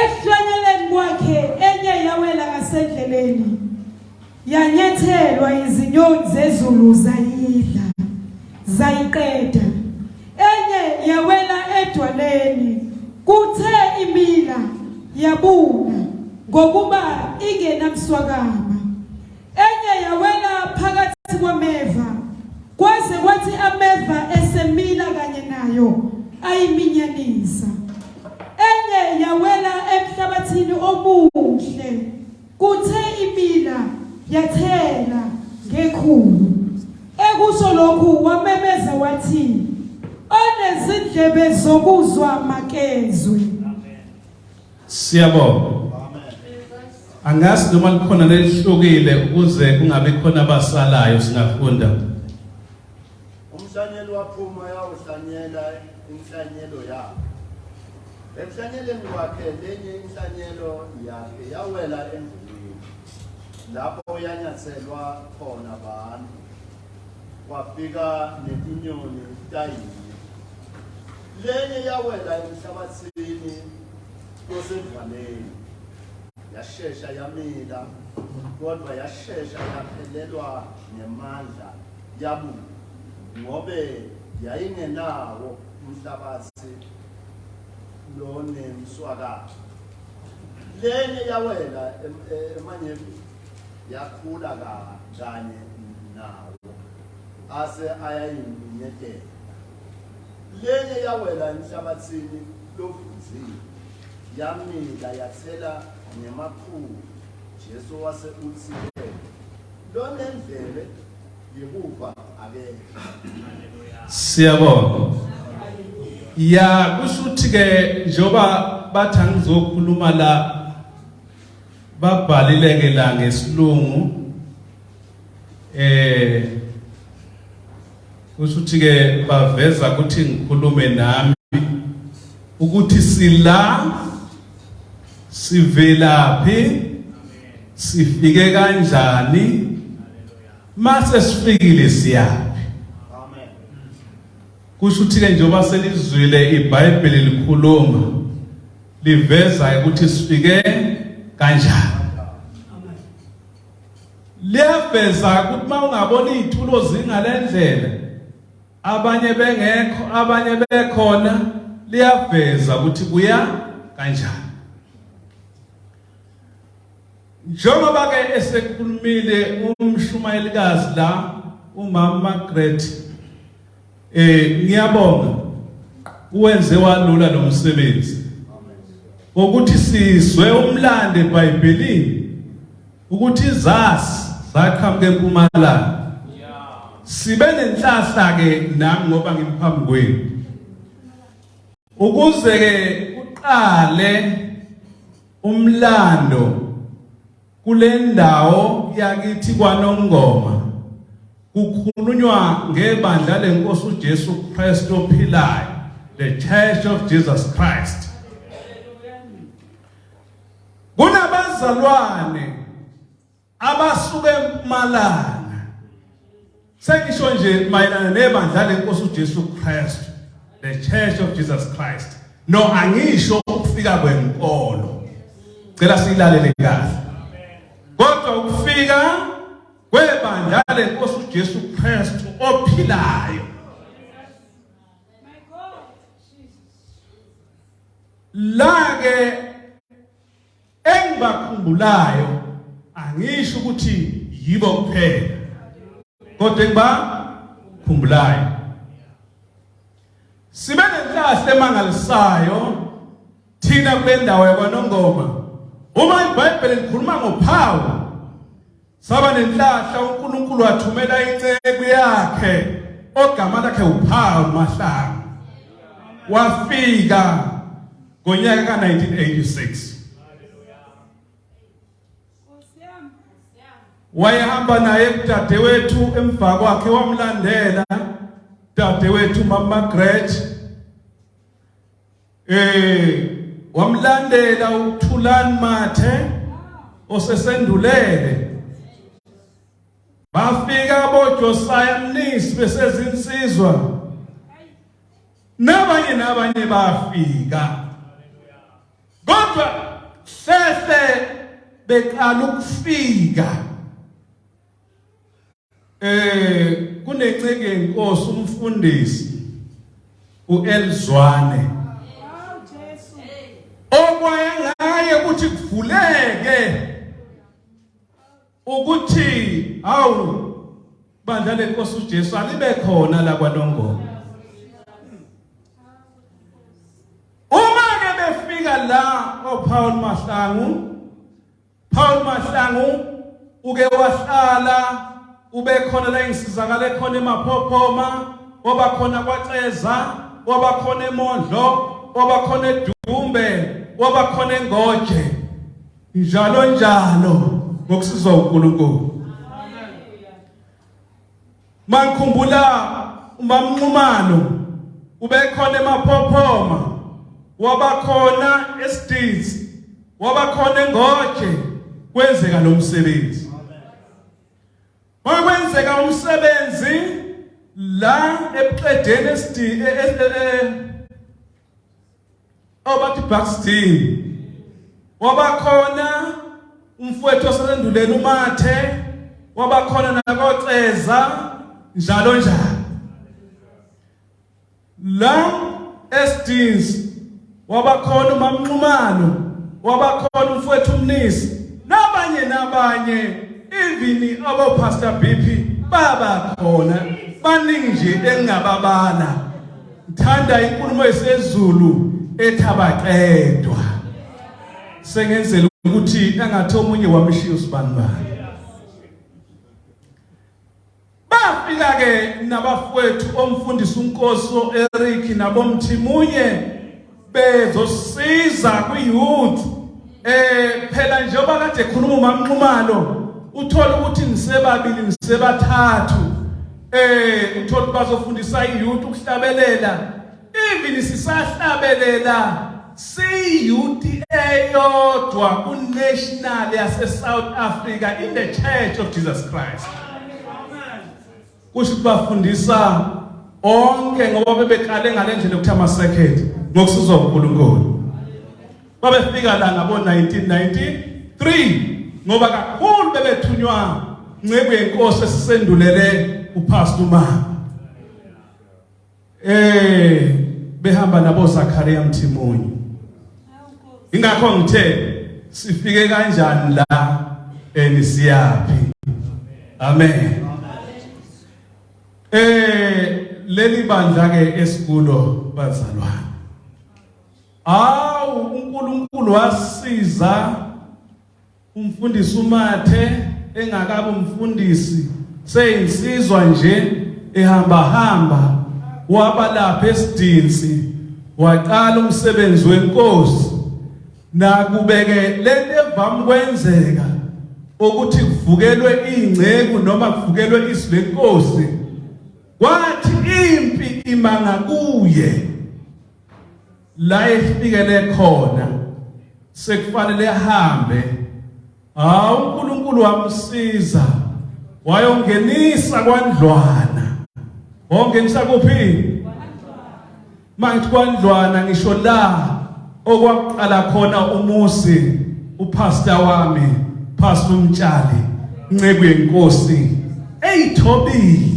Ekuhlanyeleni kwakhe enye yawela ngasendleleni, yanyathelwa izinyoni zezulu zayidla, zayiqeda. Enye yawela edwaleni, kuthe imila yabuna ngokuba ingenamswakama. Enye yawela phakathi kwameva, kwaze kwathi ameva esemila kanye nayo ayiminyanisa. Enye yawela emhlabathini omuhle, kuthe imila yathela ngekhulu. Ekusho lokhu wamemeza wathi, Onezindlebe zokuzwa makezwe. Siyabonga. Angazi noma likhona nelihlukile ukuze kungabi khona abasalayo singafunda. Umhlanyeli waphuma yawuhlanyela inhlanyelo yakhe. Emhlanyeleni wakhe lenye inhlanyelo yakhe yawela endlini lapho yanyathelwa khona abantu. kwafika netinyoni tayinye lenye yawela emhlabathini osendlwaneni yashesha yamila kodwa yashesha yaphelelwa ngemandla yabuka ngobe yayingenawo umhlabathi lonemswakatho lenye yawela emanyevini yakhula kanjani nawo ase ayayinyenyekela lenye yawela enhlabathini lovunzile yamila yathela ngemakhulu jesu wase uthi lonendlebe yekuva akekho siyabonga ya kusho ukuthi-ke njengoba bathi angizokhuluma la babhalile ke la ngesilungu eh kusho ukuthi ke baveza ukuthi ngikhulume nami ukuthi sila sivelaphi sifike kanjani mase sifikile siyaphi amen kusho ukuthi ke njengoba selizwile iBhayibheli likhuluma liveza ukuthi sifike kanjani liyaveza ukuthi uma ungabona iy'tulo zingale ndlela abanye bengekho abanye bekhona liyaveza ukuthi kuya kanjani njengoba ke esekhulumile umshumayelikazi la umama Margaret Eh ngiyabonga uwenze walula lo msebenzi ukuthi sizwe umlande eBhayibhelini ukuthi izasi zaqhamuka eMpumalanga sibe nenhlahla ke nami ngoba ngimphambi kwenu ukuze ke uqale umlando Kulendawo yakithi kwaNongoma kukhulunywa ngebandla lenkosi uJesu Kristu ophilayo, the Church of Jesus Christ. Kunabazalwane abasuke eMpumalanga Sengisho nje mayelana nebandla lenkosi uJesu Kristu, the Church of Jesus Christ. No angisho ukufika kwenkolo. Cela silalele kahle. Kodwa ukufika kwebandla lenkosi uJesu Kristu ophilayo. Lake Engibakhumbulayo angisho ukuthi yibo kuphela kodwa engibakhumbulayo sibe nenhlahla emangalisayo thina kule ndawo yakwanongoma uma ibhayibheli likhuluma ngophawu Saba nenhlahla uNkulunkulu wathumela inceku yakhe ogama lakhe uPhawu Mahlanga. Wafika ngonyaka ka-1986. Wayehamba naye udadewethu emva kwakhe wamlandela dadewethu mama Margaret Eh wamlandela uThulani Mathe osesendulele bafika aboJosiah Mnisi besezinsizwa nabanye nabanye bafika kodwa sese beqala ukufika Eh kunencenke inkosi umfundisi uElzwane. Okwaye ngaye ukuthi kuvuleke ukuthi awu bandla lenkosi uJesu alibe khona la kwaNongoma. Uma ke befika la oPaul Mahlangu Paul Mahlangu uke wahlala ubekhona la engisizakala ekhona eMaphophoma oba khona kwaCeza oba khona eMondlo oba khona eDumbe oba khona eNgoje njalo njalo ngokusizwa uNkulunkulu Mangikhumbula uMamnqumalo ubekhona eMaphophoma, wabakhona eStitsi, wabakhona eNgoje kwenzeka lo msebenzi. Makwenzeka umsebenzi la ebuqedeni eStitsi e, e, e, obathi Buxton wabakhona umfowethu osenduleni umathe wabakhona nakoCeza njalo njalo la esdins wabakhona umamnxumano wabakhona umfowethu umnisi nabanye nabanye even abo pastor BP baba khona baningi nje engababala Ngithanda inkulumo yesezulu ethabaqedwa. Sengenzela ukuthi engathi omunye wamshiya usibani bani. Bafika ke nabafowethu omfundisi uNkosi oEric nabomthimunye bezosiza kwi-youth eh phela njengoba kade ekhuluma uMamnxumalo uthola ukuthi nisebabili nisebathathu eh uthola ukuthi bazofundisa i-youth ukuhlabelela even sisahlabelela si-youth eyodwa ku-national yase-south africa in the church of jesus christ kusho ukuthi bafundisa onke ngoba bebekale ngale ndlela ukuthi ama-second ngokusizwa unkulunkulu babefika la ngabo-1993 ngoba kakhulu bebethunywa nceku yenkosi esisendulele uphastu umama Eh behamba nabo Zakaria Mthimunye. Ingakho ngithe sifike kanjani la enisiyaphi. Amen. Eh leli bandla ke esikulo bazalwane. Awu uNkulunkulu wasiza Umfundisi umathe engakabi umfundisi seyinsizwa nje ehamba hamba waba lapha esidinsi waqala umsebenzi wenkosi nakubeke lento evamu kwenzeka ukuthi kuvukelwe ingceku noma kuvukelwe izwi lenkosi kwathi impi imanga kuye la efikele khona sekufanele ahambe hawu uNkulunkulu wamsiza wayongenisa kwandlwana wongenisa kuphi manje kwandlwana ngisho la okwaqala khona umuzi upastor wami pastor umtshali nceku yenkosi eyithobile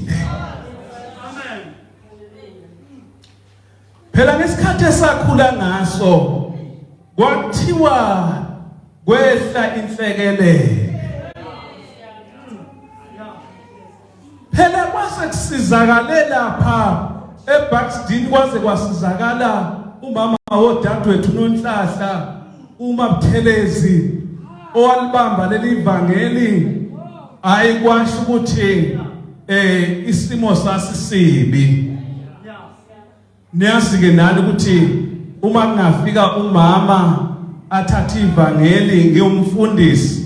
Phela ngesikhathi esakhula ngaso kwathiwa kwehla inhlekelele. Phela kwase kusizakale lapha eBackstreet kwaze kwasizakala umama wodadewethu uNonhlahla uma Buthelezi owalibamba leli vangeli hayi kwasho ukuthi eh isimo sasisibi niyazi ke nani ukuthi uma kungafika umama athathe ivangeli ngiyomfundisi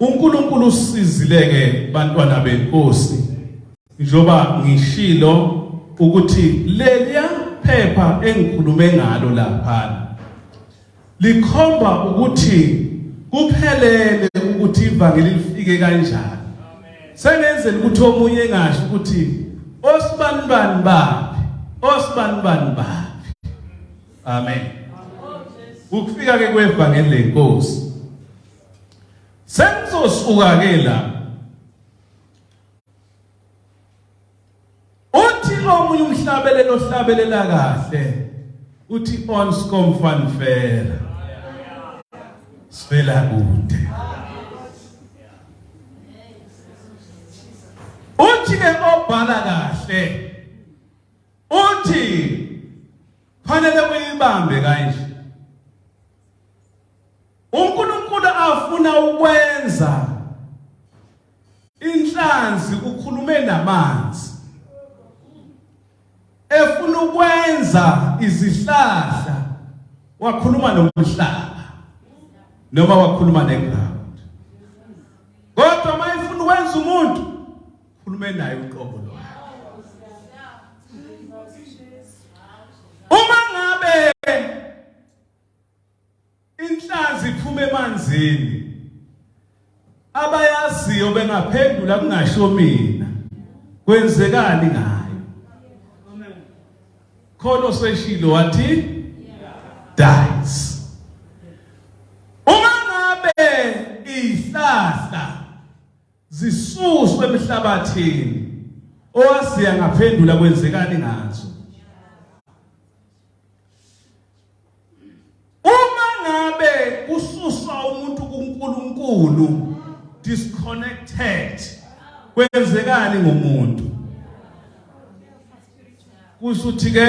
UNkulunkulu usizile ke bantwana benkosi njoba ngishilo ukuthi leliya phepha engikhulume ngalo lapha likhomba ukuthi kuphelele ukuthi ivangeli lifike kanjani sengenzela ukuthi omunye engasho ukuthi osibani bani baphi osibani bani baphi amen ukufika ke kwevangeli lenkosi Sengizosuka ke la. Uthi omunye umhlabelelo ohlabelela kahle. Uthi on skom van fair. Sivela kude. Uthi ke obhala kahle. Uthi fanele uyibambe kanje. UNkulunkulu afuna ukwenza inhlanzi ukhulume namanzi. Efuna ukwenza izihlahla wakhuluma nomhlaba noma wakhuluma neground. Kodwa uma efuna ukwenza umuntu khulume naye uqobo lwakhe. Uma ngabe Inhlanzi iphuma emanzini. Abayaziyo bengaphendula kungasho mina. Kwenzekani ngayo? Khona oseshilo wathi dies. Uma ngabe ihlahla zisuswe emhlabathini owaziya ngaphendula kwenzekani ngazo? uma ngabe kususwa umuntu kuNkulunkulu disconnected kwenzekani ngomuntu kusuthi ke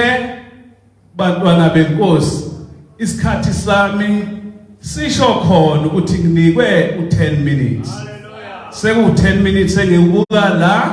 bantwana benkosi isikhathi sami sisho khona ukuthi nginikwe u10 minutes seku 10 minutes engikubuka la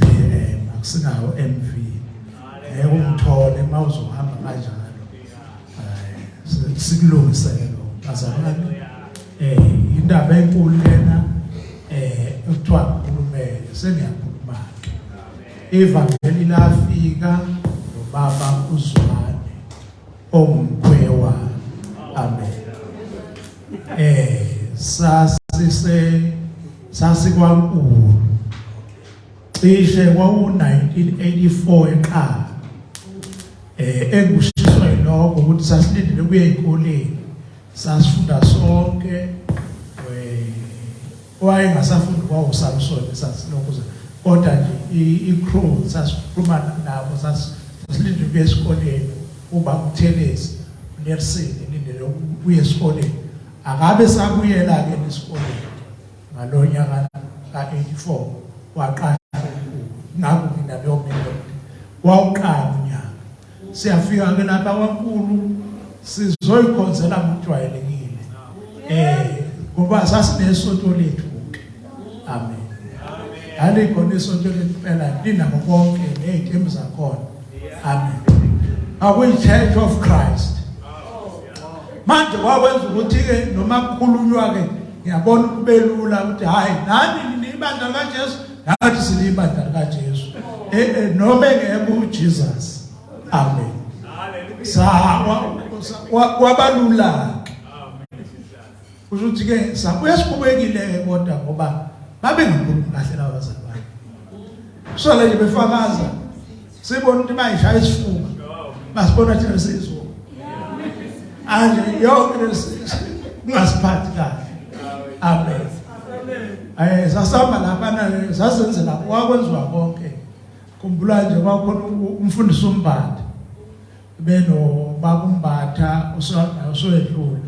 VM akusinawo MV ngeke umthole uma uzohamba kanjalo eh, sikulungisele lo bazalwane eh indaba enkulu lena eh kuthiwa ukhulumele sengiyakhuluma ke ivangeli lafika nobaba uzwane ongumkhwewa amen eh sasise sasikwankulu cishe kwawu-1984 eqala eh engushiswa yiloko ukuthi sasilindele kuye ezikoleni sasifunda sonke eh, wayengasafunda kwawo-samson sasilokuza kodwa nje i-crew sasikhulumana nabo sasilindele kuye esikoleni uba kuthelezi unersini lindele kuye esikoleni Akabe sabuyela-ke nesikoleni ngalo nyaka ka-84 waqasha umkhulu naku mina leyomelo wawuqala unyaka siyafika-ke lapha kwankulu sizoyikhonzela ngokujwayelekile um ngoba sasinesonto lethu Amen. Hali khona isonto lempela linako konke nezithembu zakhona. Amen. Akuyi Church of Christ. Manje kwakwenza ukuthi ke noma kukhulunywa ke ngiyabona kubelula ukuthi hayi nani nibandla kaJesu nathi silibandla kaJesu. Eh, eh noma engeke uJesus. Amen. Hallelujah. Sawa kwabalula. Kusho ukuthi ke sabuya sikhubekile ke kodwa ngoba babe ngakhulumi kahle laba bazali bakhe. So le befakaza sibona ukuthi bayishaya isifuba. Basibona thina sizwe. Anje yonke kungasiphathi kahle. Amen. Aye sasamba lapha na sasenzela kwakwenziwa konke. Khumbula nje kwakhona umfundisi umbandi. beno babu Mbatha usowedlula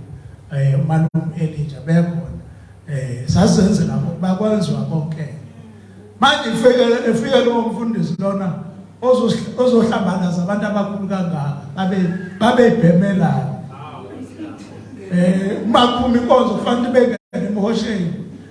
eh umalume Elijah bekhona eh sasenze lapho bakwenziwa konke manje ifike efike lo mfundisi lona ozohlambaza abantu abakhulu kangaka babe babebhemelana eh uma kuphuma inkonzo kufanele bengene emhosheni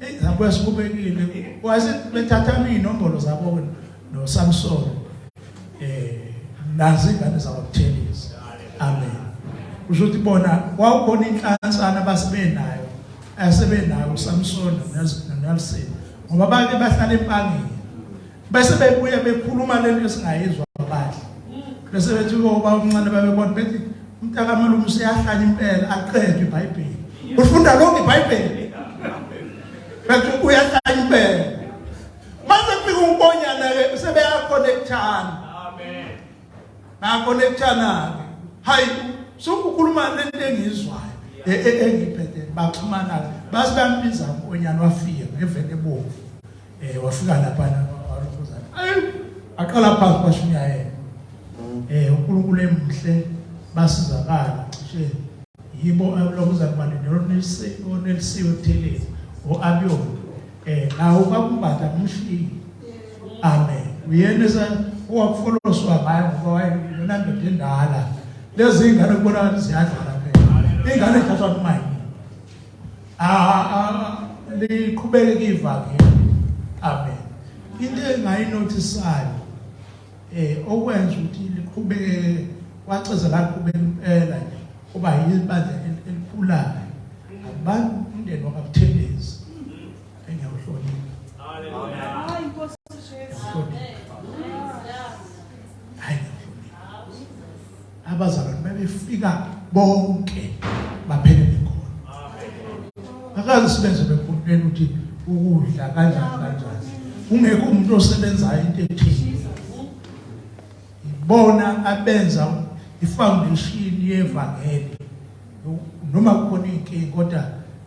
Hey, lapho esikhubekile wazi bethatha inombolo zabo no Samson eh nazi ingane zakwabuthelezi amen kusho ukuthi bona kwawukhona inhlansana basibenayo asebenayo uSamson noNelson ngoba bake bahlala empangeni bese bebuya bekhuluma lento esingayizwa badla bese bethi uba umncane babebona bethi umntakamelume useyahlanya impela aqede ibhayibheli ufunda lonke ibhayibheli bethi uyahlanya impela mase kufika unkonyana-ke sebeyakhonekthana bayakhonekthana-ke hayi sokukhuluma lento engiyizwayo e, e, engiphethe baxhumana-ke base bambiza unkonyana wafika ngevele ebomvu eh wafika lapha walukhuzana ayi aqala phansi kwashinya yena eh uNkulunkulu emhle basizakala cishe yibo abulokuzana manje nelisiwe nelisiwe thelezi oabiyona eh nawo kwakumbatha umshini amen uyena sa owakufoloswa ngayo ngoba wayeyona ndoda endala lezi ingane kubonakala ziyadlala phela ingane ithathwa kumayini ah liqhubeke kivakhe amen into engayinotisayo eh okwenza ukuthi liqhubeke waceza la qhubeka impela nje kuba yibandla elikhulayo abantu umndeni wakabuthelezi engiyawuhlonipha haleluya hayi inkosi Jesu abazalwane babefika bonke baphele bekhona akazi sibenze bekhulumela ukuthi ukudla kanjani kanjani ungekho umuntu osebenzayo into ethile ibona abenza ifoundation yevangeli noma kukhona inkingi kodwa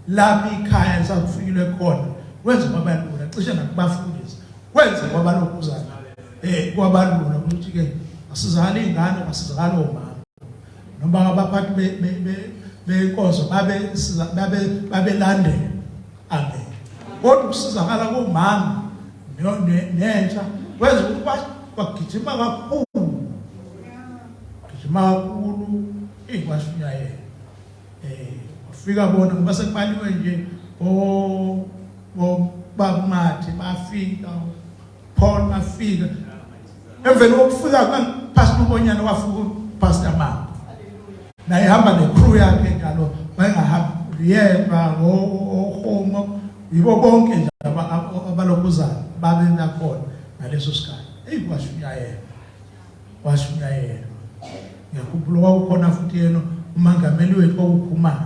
lapha ikhaya lisakufikile khona wenza kwabalula cishe nakubafundisi wenza kwabalokuzana eh kwabalula ukuthi ke asizali ingane asizali omama noma abaphathi be be beyinkonzo babe babe babelandela amen kodwa ukusizakala komama nentsha kwenza ukuthi bagijima kakhulu gijima kakhulu ikwashunyayela eh ufika bona ngoba sekubaliwe nje o o babumathi bafika Paul mafika emveni kokufika pastor ubonyana wafika pastor mama naye hamba necrew yakhe njalo wayengahamba yeba ohomo yibo bonke nje abalokuzayo babe nakhona ngaleso sikhathi eyi kwashunyayela kwashunyayela ngiyakhumbula kwakukhona futhi yena umangameli wethu kwakukhumana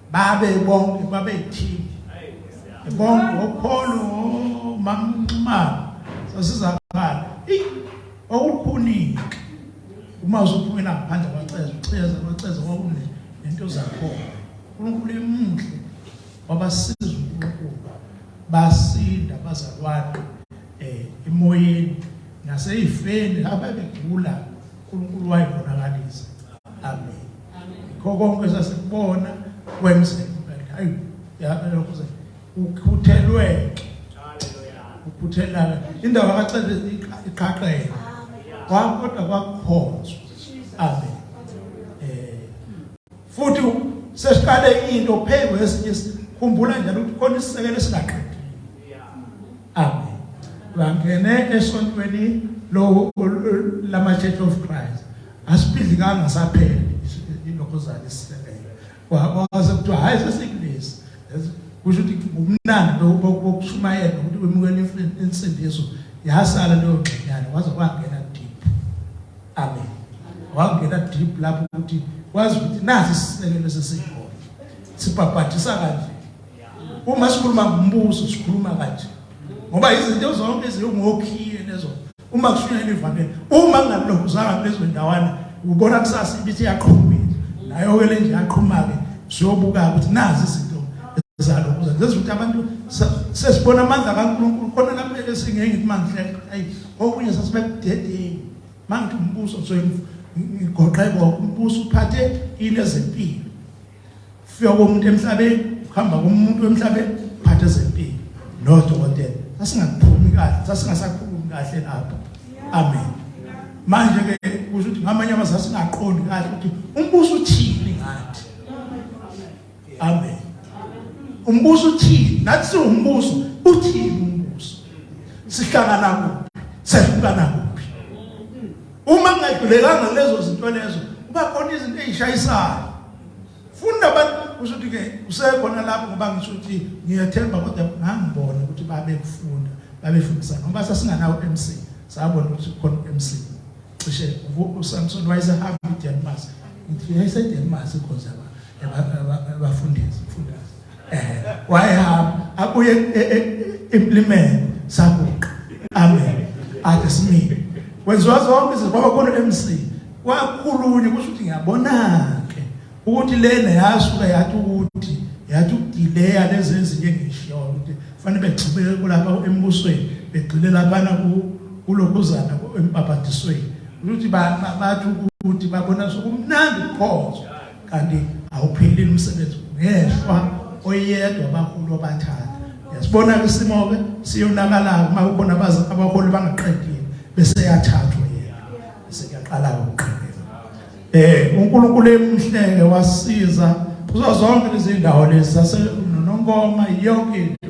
babe bonke babe yithini bonke okholo mamnxumalo sasizakhala eyi okukhunike uma usuphumela ngaphandle kwaceza ucheza kwaceza kwakune nento zakhona uNkulunkulu emuhle wabasiza ukuqhuba basinda bazalwane eh emoyeni naseyifeni laba begula uNkulunkulu wayibonakalisa amen ngikho konke sasikubona kwenzeka hayi yabe lokho se ukhuthelweke ukhuthelana indaba kaCebe iqhaqhele kwakodwa kwakukhonzwa amen eh futhi sesiqale into phezu kwesinye sikhumbula njalo ukuthi khona isisekelo esingaqedile Amen. Bangene esontweni lo lama Church of Christ. Asibidlikanga saphela lokho zani sisebenza. Wabaze kuthiwa hayi sesikulesi. Kusho ukuthi kumnandi lo bokushumayela ukuthi wemukela insindiso yasala leyo ngxenyana waze kwangena deep. Amen. Wangena deep lapho ukuthi wazi ukuthi nasi sisekelo sesiholo. Sibhabhadisa kanje. Uma sikhuluma ngombuso sikhuluma kanje. Ngoba izinto zonke ezingokhiye lezo. Uma kushunyayela ivangeli, uma kungalokho uzanga kulezo ndawana, ubona kusasa ibithi yaqhubeka. Nayo ke le nje yaqhuma ke siyobuka ukuthi nazi izinto zalo kuze ngenza ukuthi abantu sesibona amandla kaNkulunkulu khona la kumele singeke kumandla ayi okunye sasibekudedeni mangithi umbuso soyigoqe konke umbuso uphathe into ezempilo Ufika komuntu emhlabeni, uhamba komuntu emhlabeni, phathe zempilo. No dokotela, sasingakuphumi kahle, sasingasakhulumi kahle lapho. Amen. Manje ke kusho ukuthi ngamanye amazwi singaqondi kahle ukuthi umbuso uthini ngathi. Amen. Umbuso uthini? Nathi siwumbuso, uthini umbuso? Sihlangana kuphi? Sehlukana kuphi? Uma ngingagculekanga lezo zinto lezo, kuba khona izinto ezishayisayo. Funda abantu kusho ukuthi ke usekhona lapho ngoba ngisho ukuthi ngiyathemba kodwa ngangibona ukuthi babekufunda, babefundisa ngoba sasinganawo MC. Sabona ukuthi khona MC. Cishe uSamson wayesehamba iDenmark. Ngithi yayise Denmark ikhonza abafundisi, mfundisi. wayehamba abuye e, e, implimele sabuqa amen ake simile wenziwa zonke izinto kwaba khona MC kwakhulunye kusho ukuthi ngiyabona ke ukuthi lena yasuka yathi ukuthi yathi ukudileya lezi ezinye engishiyo ukuthi fanele begxibeke kulapha embusweni begxile laphana ku kulokuzana empaphatisweni ukuthi bathi ukuthi babona sokumnandi khona kanti awuphelile umsebenzi ngeshwa oyedwa abaholi abathatha yasibona ke isimo ke siyonakala uma ubona abazi abaholi bangaqedile bese yathathwa yena bese kuyaqala ukuqhubeka eh uNkulunkulu emhleke wasiza kuzo zonke izindawo lezi sase noNkoma yonke into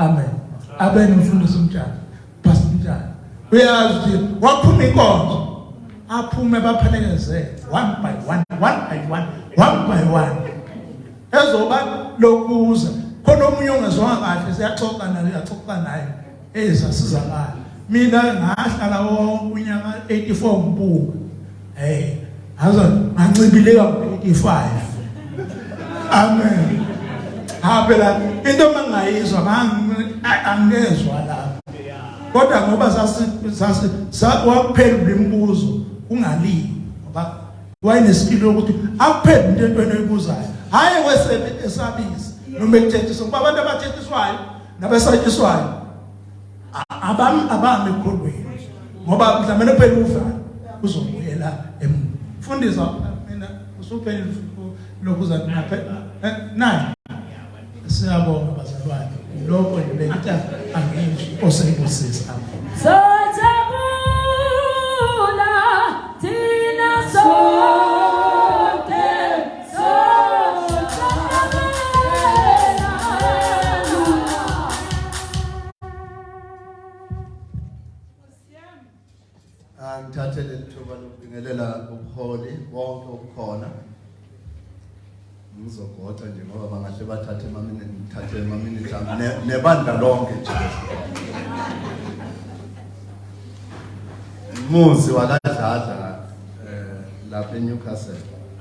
Amen. Abe nomfundisi umtshana. Pastor umtshana. Uyazi ukuthi waphuma inkonzo. Aphume baphelekeze one by one, one by one, one by one. Ezoba lokuza. Khona omunye ongezwanga kahle siyaxoxa naye, uyaxoxa naye. Eh sasizakala. Mina ngahlala wonke unyaka 84 ngibuka. Hey, aza ngancibileka ku-85. Amen. Haphela into mangayizwa angizwa la. Kodwa ngoba sasi sasi wakuphela umbuzo ungalini ngoba wayenesipilo ukuthi akuphele into entweni oyibuzayo. Hayi wesebe esabisa noma ekuthethiswa ngoba abantu abathethiswayo nabesatshiswayo abami abami ekhulwini ngoba mhlawumbe phela ufa uzobuyela emuva fundisa mina usuphele lokhu zakunaphe eh, nayi siyabonga bazalwane lokho nje bengithi angizwi osengibusisa sothakula thina so Angithathe leli thuba lokubingelela ubuholi bonke obukhona ngizogoqa nje ngoba bangahle bathathe emaminini ngithathe emaminini ami ne- nebandla lonke nje umuzi wakadladla um lapha eNewcastle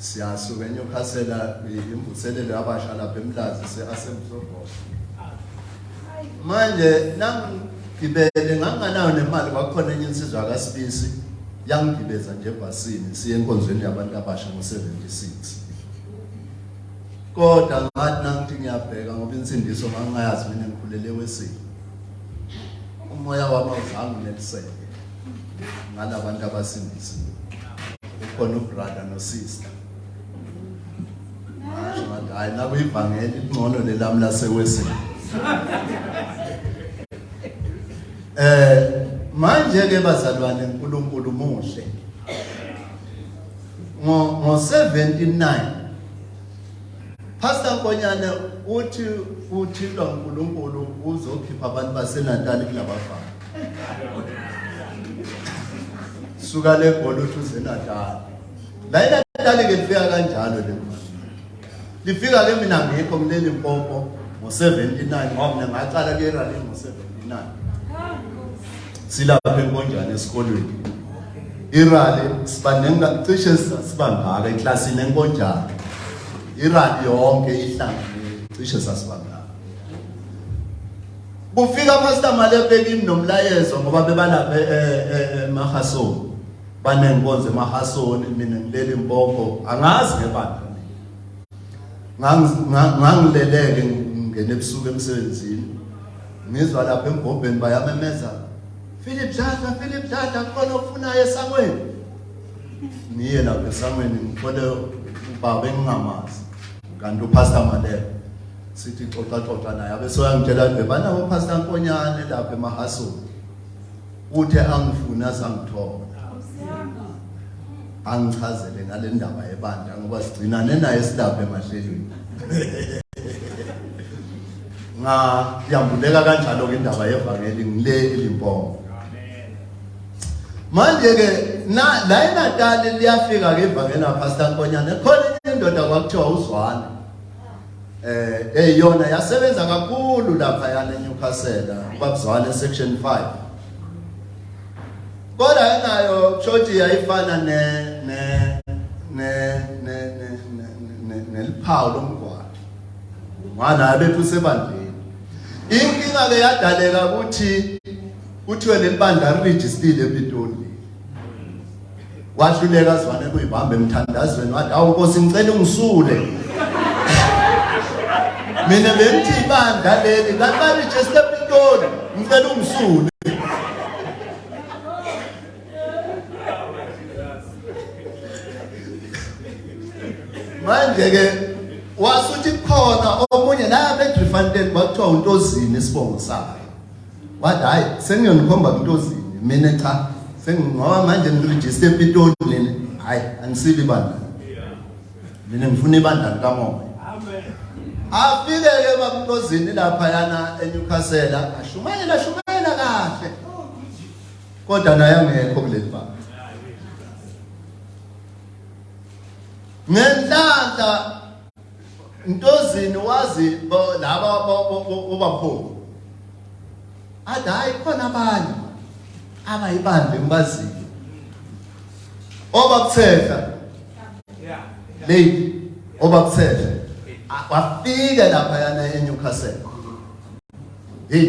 siyasuka enyukhasela imvuselelo yabasha lapha emlazi se-asembsobo manje nangigibele nganginganayo nemali kwakukhona enye insizwa kasibisi yangigibeza nje ebhasini siye enkonzweni yabantu abasha ngo-76 kodwa ngathi nangithi ngiyabheka ngoba insindiso ngangingayazi mina ngikhulele wesini umoya wami awuzange uneliseke ngalabantu abasindisiwe ukhona ubrother nosister ngasho ngathi hayi naku ivangeli lingcono lelami lasewesini eh manje ke bazalwane uNkulunkulu muhle ngo ngo 79 Pastor Nkonyane uthi uthintwa uNkulunkulu uzokhipha abantu baseNatal kulabafana suka le golo uthi uzenatali la inatali ke lifika kanjalo le lifika ke mina ngikho kuleli mpompo ngo-79 ngoba mina ngaqala kuyeralini ngo-79 silapha enkonjane esikolweni irali sibanenga cishe sasibangaka eklasini enkonjane irali yonke ihlangene cishe sasibangaka Kufika Pastor Malepe kimi nomlayezo ngoba bebalaphe eMahasoni. Eh, eh, eh, Banenkonzo eMahasoni mina ngilele impoko angazi ngebandla. Ngangileleke ngene ebusuku emsebenzini. Ngizwa lapha embhobheni bayamemeza. Philip Dladla, Philip Dladla khona ofunayo esangweni. Niye lapha esangweni ngifole ubaba engingamazi. Kanti uPastor Malepe sithi xoxa xoxa naye abe soyangitshela nje banawo pastor Nkonyane lapha emahasoni uthe angifuna sangithola angichazele ngale ndaba yebandla ngoba sigcinane naye silapha emahlelweni nga yambuleka kanjalo ke indaba yevangeli ngile elimpopo manje ke na la eNatal liyafika ke ivangeli lapha Pastor Nkonyane khona indoda kwakuthiwa uzwane eh eyona yasebenza kakhulu lapha yana eNewcastle babuzwane section 5 kodwa enayo church yayifana ne ne ne ne ne neliphawu lomgwaqo ngwana bethu sebandleni inkinga ke yadaleka ukuthi kuthiwe lelibandla registered ePitoli wahluleka zwane kuyibamba emthandazweni wathi awu nkosi ngicela ungisule mina bengithi ibandla leli laqala ichester pitoni ngicela ungisule manje-ke wasuthi khona omunye la bedrifanten kwakuthiwa untozini isibongo sakhe wathi hayi sengiyonikhomba kuntozini mina cha sengingoba manje ngirejiste empitoli mina hayi angisibi bandla mina ngifuna ibandla likamoya afike-ke bakuntozini laphayana enyukhasela ashumayela ashumayela kahle kodwa naye angekho kuleli banga ngenhlanhla Ntozini wazi bo- laba bo- bo- bo- bobaphofu. Athi hayi khona abanye abayibambe ngibazile. Obakuthetha lady obakuthetha wafika lapha yana eNewcastle. Hey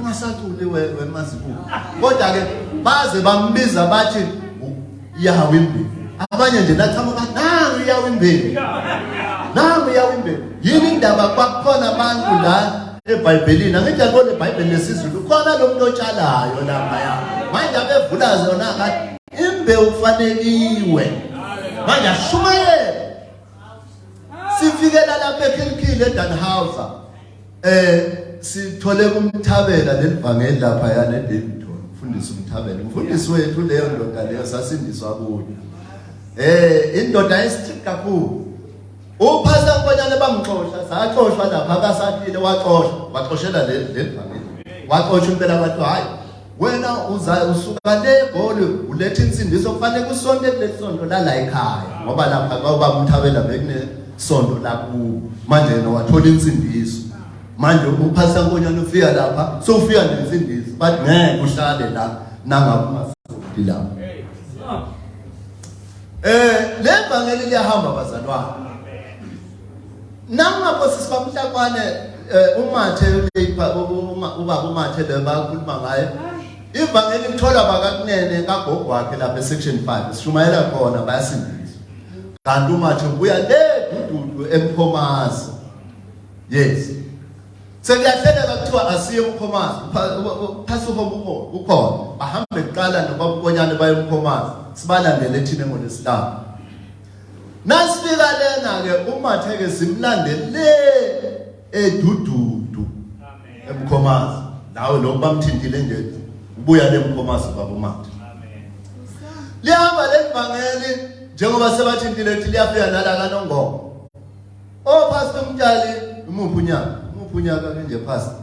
ungasaculi wemazibuko kodwa-ke baze bambiza bathi yawo imbewu abanye nje nathama bathi nangu yawo imbewu nangu yawo imbewu yini indaba kwakukhona abantu la ebhayibhelini angithi akona ebhayibhelini lesizulu khona lo muntu otshalayo laphaya manje abevula zona kathi imbewu kufanekiwe manje ashumayele sifikela lapha ekhilkhile edanhauser eh sithole kumthabela lelivangeli lapha yana edavidton mfundisi umthabela umfundisi wethu leyo ndoda leyo sasindiswa kuyo eh indoda esithi kakhulu uphasa kubanyana bamxosha saxoshwa lapha kasathile waxoshwa waxoshela leli lelivangeli waxosha impela kwathi hayi wena uza usuka le goli uletha insindiso kufanele kusonte kulesonto lala ekhaya ngoba lapha kwaba umthabela bekune sonto laku manje yena wathola insindiso manje uphasa nkonyana ufika lapha so ufika nensindiso but ngeke uhlale la nangakumasonti la eh le vangeli liyahamba bazalwane Nanga Nkosi sibamhlakwane eh, umathe uleyipa ubaba umathe le bakhuluma ngaye. Ivangeli lithola bakakunene kagogo wakhe lapha section 5 sishumayela khona bayasindisa. Kanti umathe ubuya le dududu emphomazi. Yes. Sekuyahleleka kuthiwa asiye umkhomazi. Phasa uhomo ukhona. Ukhona. Bahambe kuqala nobabukonyane bayomkhomazi. Sibalandele thina ngolesihlanu. Nasifika lena ke umathe ke simlande le edududu eMkhomazi nawe lokho bamthintile nje ubuya le Mkhomazi baba umathe lihamba lelivangeli njengoba sebathintile ukuthi liyafika nala kanongoma o oh, pastor umtshali umuphi unyaka umuphi unyaka nje pastor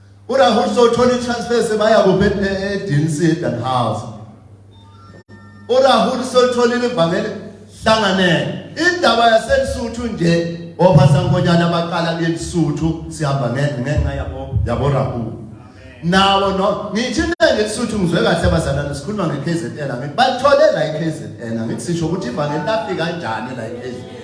URahul sothola itransfer sebaya kuphi eDNC eDanhouse. URahul sotholile ivangeli hlanganele. Indaba yaseLusuthu nje oPhasankonyana baqala kuyeLusuthu sihamba ngenxa yabo yabo Rahul. Nawo no ngithi ngeLusuthu ngizwe kahle abazalwane sikhuluma ngeKZN ngithi bathole la iKZN ngithi sisho ukuthi ivangeli lafika kanjani la iKZN.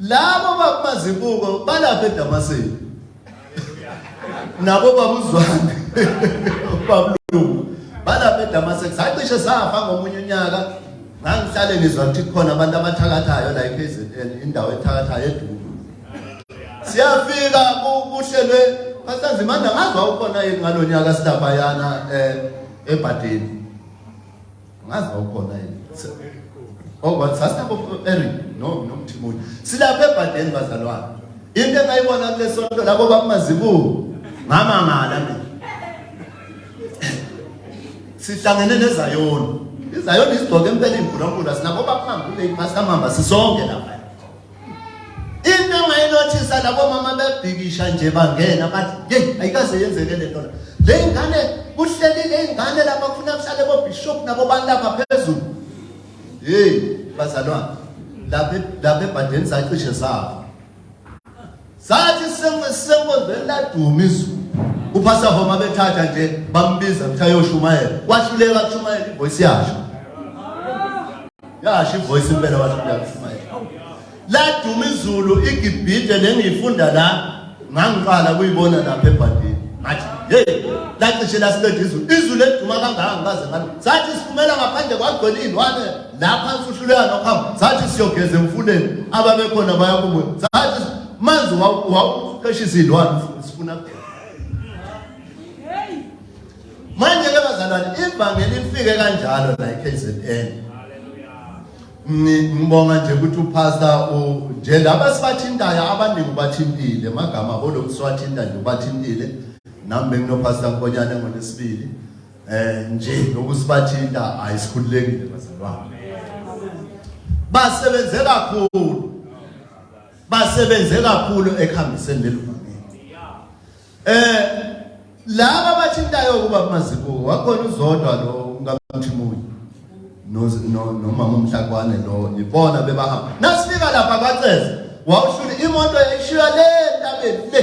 Labo bakumazibuko balapha eDamaseko. Nabo babuzwane. Babulungu. Balapha eDamaseko. Sacishe safa ngomunye unyaka. Ngangihlale ngizwa ukuthi khona abantu abathakathayo la eKZN indawo ethakathayo eduku. Siyafika kuhlelwe Pastor Zimanda ngazwa ukhona yini ngalonyaka silaphayana eh ebhadini. ngazi bawukhona yini oh but sasinabo Eric no nomthimuni silapha ebhadeni bazalwane into engayibona kulesonto labo bakumazibuko ngamangala mina sihlangene nezayoni izayoni izigcoke impela imbhulankulu asinabo bakuhamba kule iphasi kamamba sisonke lapha into engayinothisa labo mama bebhikisha nje bangena bathi yeyi ayikaze yenzeke le nto la le ngane kuhleli le ngane lapha kufuna kuhlale bobishop nabo bantu lapha phezulu yeyi bazalwane lapha ebhadeni zacishe zabo Sathi sengozisenkozweni laduma izulu. Uphasa homa bethatha nje bambiza ukuthi ayoshumayela. Wahluleka kushumayela ivoice yasho. Yasho ivoice impela wahluleka kushumayela. Laduma izulu igibhide lengiyifunda la ngangiqala kuyibona lapha ebhandini. Ngathi hey lacishe lasiqeda izulu. Izulu eduma kangaka ngaze ngathi sathi siphumela ngaphandle kwagcwele izilwane. lapha sihluleka nokuhamba sathi siyogeza emfuleni ababekhona bayakubuya sathi manzi wawuqesha izilwane sifuna manje ke bazalwane ivangeli lifike kanjalo la eKZN ngibonga nje ukuthi upastor nje laba sibathintayo abaningi bathintile magama olokhu siwathinta nje ubathintile nami benginopastor Nkonyane ngolesibili eh nje nokusibathinta ayisikhululekile bazalwane basebenze kakhulu basebenze kakhulu ekuhambiseni leli vangeli eh laba bathintayo kuba mazibuko wakhona uzodwa lo ngamthimuli nomama umhlakwane lo ibona bebahamba nasifika lapha kaceza wawushula imoto yayishiya le ntabeni le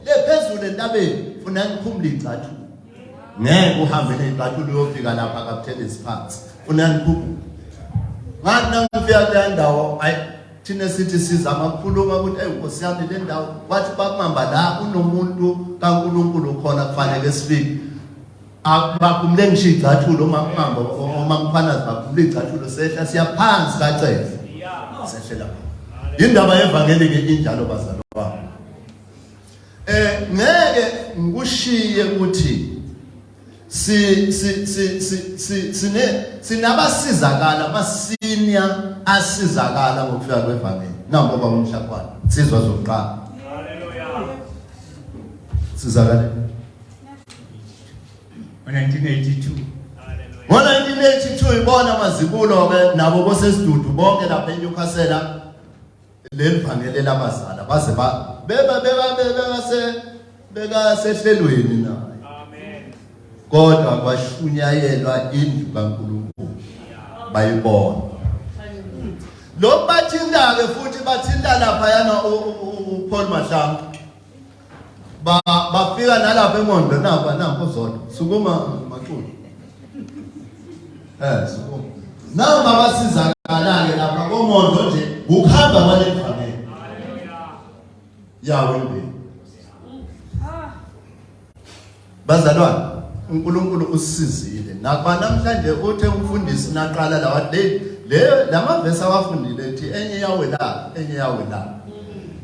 le phezulu entabeni funa ngikhumule igcathu ngeke uhambe nezicathulo uyofika lapha kabuthele siphansi funa niphuphu ngathi nangifika kule ndawo ayi thina sithi sizama ukukhuluma ukuthi eyi nkosi yami le ndawo wathi bakuhamba la kunomuntu kankulunkulu khona kufanele sifike baphumule ngisho igcathulo uma kuhamba uma kuphanazi baphumule igcathulo sehla siyaphansi kacele sehlela indaba yevangeli ke injalo bazalwane Eh ngeke ngikushiye ukuthi si si si si sine sinabasizakala masinya asizakala ngokufika kwevangeli nampo baba umhlakwani sizwa zokuqala haleluya sizakala ngo-1982 ngo-1982 ibona mazibulo-ke nabo bosesidudu bonke lapha enyukhasela leli vangeli elabazala baze ba beba beba beba se beka sehlelweni na amen kodwa kwashunyayelwa indlu kaNkulunkulu bayibona lokbathindake futhi bathinta lapha yana uPaul Mahlangu ba bafika nalapha emondo naba nampo zona sukuma maculo eh sukuma nabo babasizakalayo lapha komondo nje ukuhamba kwale family haleluya yawe mbili Bazalwane, uNkulunkulu usisizile. Nakuba namhlanje uthe umfundisi naqala lawa day le lamavesi awafundile ethi enye yawe la, enye yawe la.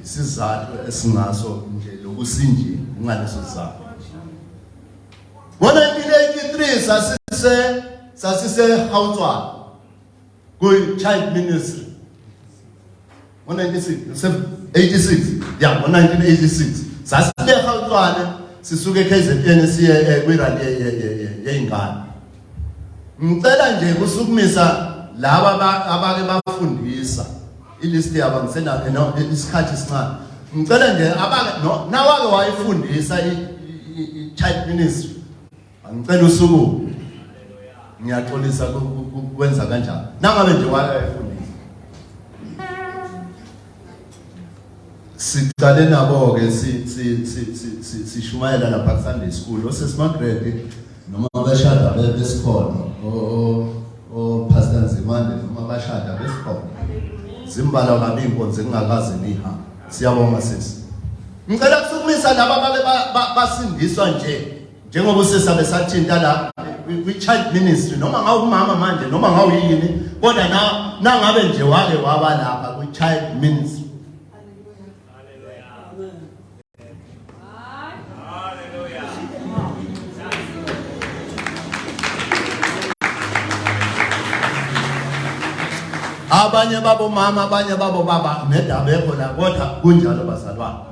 Isizathu esingaso nje lokusinjile ngaleso sizathu. Ngo-1983 sasise sasise Hautswana kwi-child ministry ngo-1986 ya ngo-1986 sasileha utshwane sisuke ekhzn siye eh, kwirandi yey'ngane ngicela nje kusukumisa laba abake bafundisa ilist yabo ngisenasikhathi sincane ngicela nje nawake wayifundisa i-child ministry Angicela usuku. Ngiyaxolisa kwenza kanjani. Nangabe nje wayefundisa. Siqale nabo ke si si si sishumayela lapha ku Sunday school. Osesimagrade noma bashada besikhona. O o Pastor Nzimande noma bashada besikhona. Zimbala kabi inkonzo engakaze niha. Siyabonga sisi. Ngicela kusukumisa laba babe basindiswa nje. njengoba usesabe sathinta la kwi-child ministry noma ngawumama manje noma ngawuyini kodwa na nangabe nje wake waba lapha kwi-child ministry abanye babomama abanye babobaba nedabekho la kodwa kunjalo bazalwane